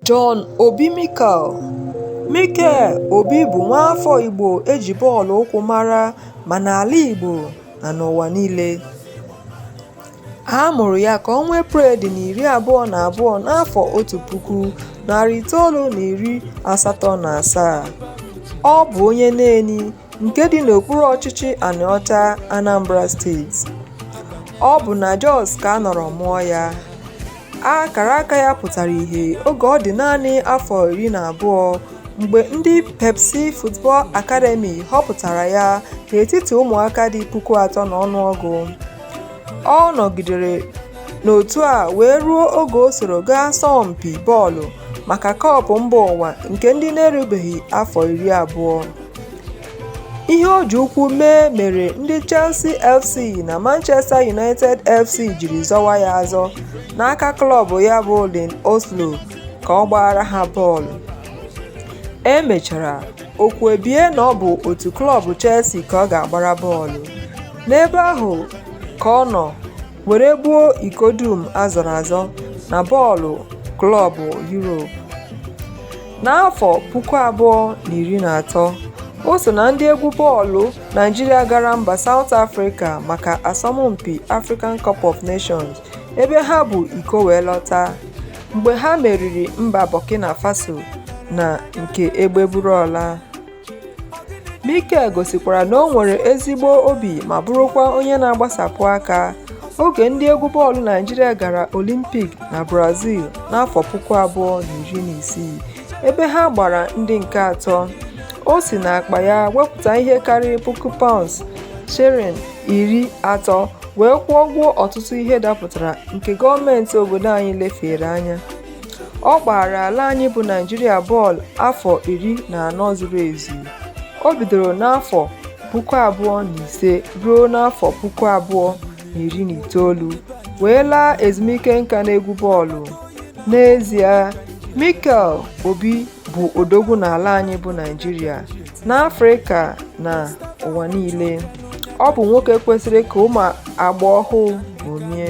John Obi Mikel Mikel Obi bụ nwaafọ Igbo e ji bọọlụ ụkwụ mara ma n'ala Igbo na n'ụwa niile. A mụrụ ya ka ọnwa Eprel dị na iri abụọ na abụọ n'afọ otu puku, narị itoolu na iri asatọ na asaa. Ọ bụ onye Neni. nke dị n'okpuru ọchịchị Anịọcha Anambra steeti ọ bụ na Jos ka a nọrọ mụọ ya akara aka ya pụtara ihe oge ọ dị naanị afọ iri na abụọ mgbe ndị Pepsi Football Academy họpụtara ya n'etiti ụmụaka dị puku atọ na ọnụọgụ ọ nọgidere n'otu a wee ruo oge o soro gaa asọmpi bọọlụ maka kọpụ mba ụwa nke ndị na-erubeghị afọ iri abụọ ihe o ji ụkwụ mee mere ndị Chelsea FC na Manchester United FC jiri zọwa ya azọ n'aka klọb ya bụ Lyn Oslo ka ọ gbaara ha bọọlụ e mechara okwu ebie na ọ bụ otu klọb Chelsea ka ọ ga-agbara bọọlụ n'ebe ahụ ka ọ nọ were gbuo iko dum a zọrọ azọ na bọọlụ klọb Europe N'afọ puku abụọ na iri na atọ, o so na ndị egwu bọọlụ Naịjirịa gara mba Saụt Afrịka maka asọmpi African Cup of Nations ebe ha bu iko wee lọta mgbe ha meriri mba Burkina Faso na nke egbe buru ọla. Mikel gosikwara na o nwere ezigbo obi ma bụrụkwa onye na-agbasapụ aka oge ndị egwu bọọlụ Naịjirịa gara Olimpik na Brazil n'afọ puku abụọ na iri na isii ebe ha gbara ndị nke atọ. O si n'akpa ya wepụta ihe karịrị puku paụnds sterling iri atọ wee kwụọ ụgwọ ọtụtụ ihe dapụtara nke gọọmentị obodo anyị lefeere anya. Ọ gbaara ala anyị bụ Naịjirịa bọọlụ afọ iri na anọ zuru ezu. O bidoro n'afọ puku abụọ na ise ruo n'afọ puku abụọ na iri na itoolu wee laa ezumike nka n'egwu bọọlụ. N'ezie, Mikel Obi bụ odogwu n'ala anyị bụ Naịjirịa, n'Afrịka na ụwa niile. Ọ bụ nwoke kwesịrị ka ụmụ agba ọhụụ ṅomie.